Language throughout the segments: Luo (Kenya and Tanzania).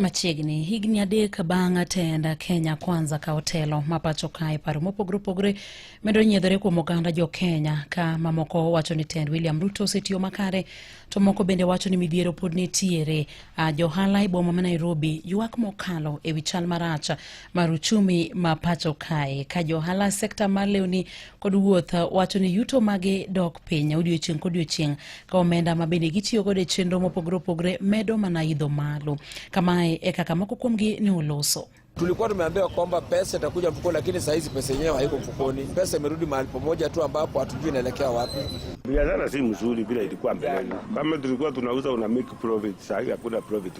Machiegni higni adek bang' atenda Kenya Kwanza ka otelo ma pacho kae paro mopogore opogore medo nyiedhore kuom oganda jo Kenya ka mamoko wacho ni tend William Ruto osetiyo makare to moko bende wacho ni midhiero pod nitiere. Uh, johala e boma ma Nairobi ywak mokalo e wi chal marach mar uchumi ma pacho kae ka johala sekta mar lewni kod wuoth wacho ni yuto mage dok piny odiochieng' kodiochieng' ka omenda ma bende gitiyo godo e chenro mopogore opogore medo mana idho malo kamae e kaka moko kuomgi ne oloso Tulikuwa tumeambiwa kwamba pesa itakuja mfukoni, lakini saa hizi pesa yenyewe haiko mfukoni. Pesa imerudi mahali pamoja tu ambapo hatujui inaelekea wapi. Biashara si mzuri vile ilikuwa mbeleni. Kama tulikuwa tunauza una make profit, saa hii hakuna profit.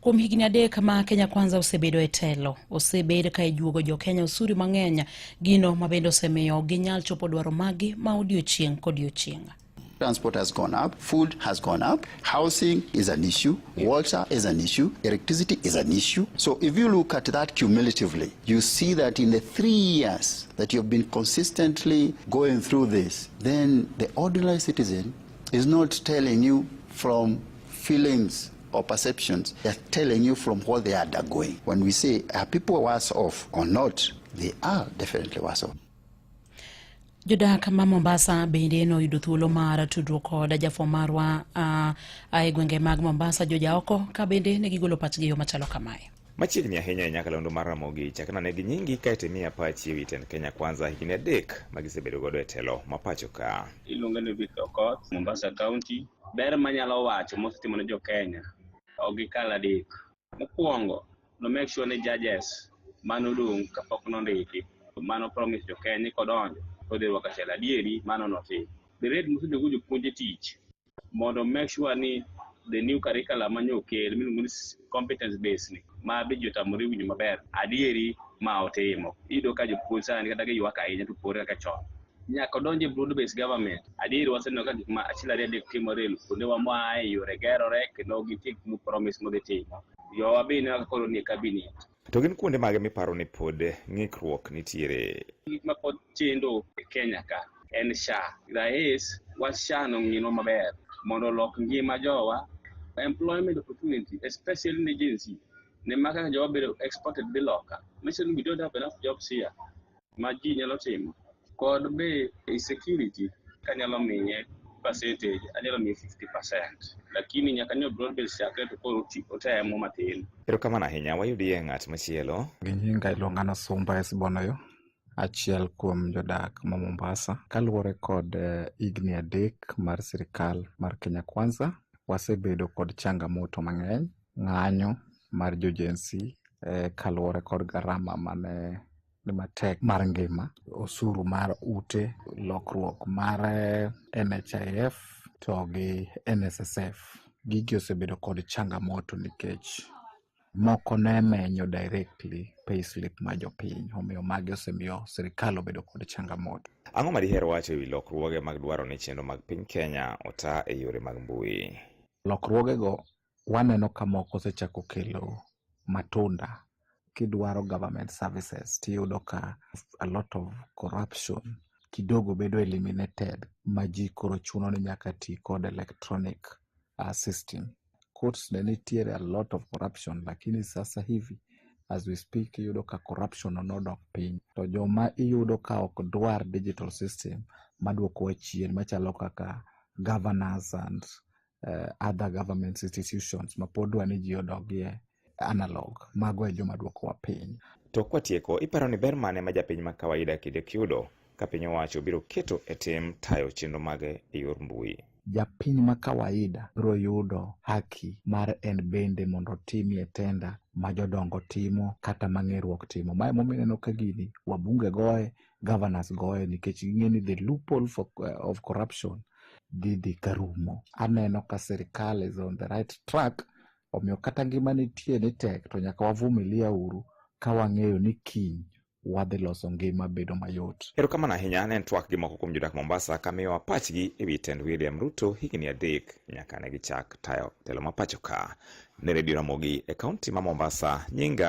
Kuom higni adek ma Kenya Kwanza osebedo e telo, osebed ka ijuogo jo Kenya osuri mang'eny, gino ma bende osemiyo ok ginyal chopo dwaro maggi ma odiochieng' kodiochieng'. Transport has gone up, food has gone up, housing is an issue, yeah. water is an issue, electricity is an issue. So if you look at that cumulatively, you see that in the three years that you've been consistently going through this, then the ordinary citizen is not telling you from feelings or perceptions. They are telling you from what they are undergoing. When we say, are people worse off or not? They are definitely worse off. Jodak ma Mombasa bende noyudo thuolo mar tudruok kod jafwambo marwa uh, e gwenge mag Mombasa joja oko ka bende ne gigolo pachgi yo machalo kamae. Machiegni ahinya e nyakalondo mar Ramogi chakna ne gi nyingi kae to imiya pachi e wi tend Kenya Kwanza higni adek ma gisebedo godo e telo ma pacho ka. Iluonga ni Victor Okoth, Mombasa County. ber manyalo wacho mosetimo ne jo Kenya ok gikal adek. Mokwongo, no make sure ni judges mane odong' kapok nondiki mane opromis jo Kenya ni kodonjo todhi rwako achiel adieri mano notim. The rate mosedogo jopuonje tich mondo make sure ni the new curriculum ma nyo okel miluongo ni competence based ni ma be ji otamore winjo maber adieri ma otimo. Iyudo ka jopuonj sani kata giywak ahinya to pore kaka chon. nyaka odonje broad based government adier waseneno ka gik ma achiel ariyo adek timore kuonde wa moaye yore gerore kendo gitik mu promise modhi timo jowa be ineno kaka koro nie cabinet To gin kuonde mage miparo ni pod ng'ikruok nitiere? gik ma pod chendo e Kenya ka en SHA. Rais wach SHA no ng'ino maber mondo olok ngima jowa employment opportunity especially ne Gen Z ne maka jowa bedo exported dhi loka. Mission we don't have enough jobs here. ma ji nyalo timo kod be security kanyalo miye percentage anyalo miye 50% lakini nyaka ni broad base chakre to koro ti- otemo matin Erokamano ahinya, wayudie ng'at machielo. gi nyinga iluonga na Sumba Esbonoyo, achiel kuom jodak ma Mombasa. Kaluwore kod eh, higni adek mar sirikal mar Kenya Kwanza, wasebedo kod changamoto mang'eny, ng'anyo mar jojensi eh, kaluwore kod garama mane ni matek mar ngima, osuru mar ute, lokruok mar eh, NHIF to gi NSSF. Gigi osebedo kod changamoto nikech moko ne menyo directly payslip ma jopiny omiyo magi osemiyo sirikal obedo kod changamoto. Ang'o ma diher wacho e wi lokruoge mag dwaro ni chenro mag piny Kenya ota e yore mag mbui? Lokruogego Waneno ka moko osechako kelo matunda kidwaro government services tiyudo ka a lot of corruption kidogo bedo eliminated ma ji koro chuno ni nyaka ti kod electronic uh, system. Courts ne nitiere a lot of corruption lakini sasa hivi as we speak iyudo ka corruption nodok piny to joma iyudo ka ok dwar digital system maduokowa chien machalo kaka governors and uh, other government institutions ma pod dwa ni ji odogie analog mago e joma dwokowa piny to kwatieko iparo ni ber mane ma japiny ma kawaida kidek yudo ka piny owacho biro keto e tim tayo chenro mage e yor mbui japiny ma kawaida biro yudo haki mar en bende mondo otimie tenda ma jodongo timo kata ma ng'eruok timo ma emomiyo ineno ka gini wabunge goye governors goyo nikech ging'e ni the loophole for, uh, of corruption dhi dhi ka rumo. Aneno ka sirikal is on the right track, omiyo kata ngima nitie ni tek to nyaka wavumilia uru ka wang'eyo ni kiny wadhi loso ngima bedo mayot. Erokamano ahinya ne en twak gi moko kuom jodak Mombasa ka miyowa pachgi e wi tend William Ruto higni adek nyaka ne gichak tayo telo ma pacho ka. Ne redio Ramogi e kaunti ma Mombasa, nyinga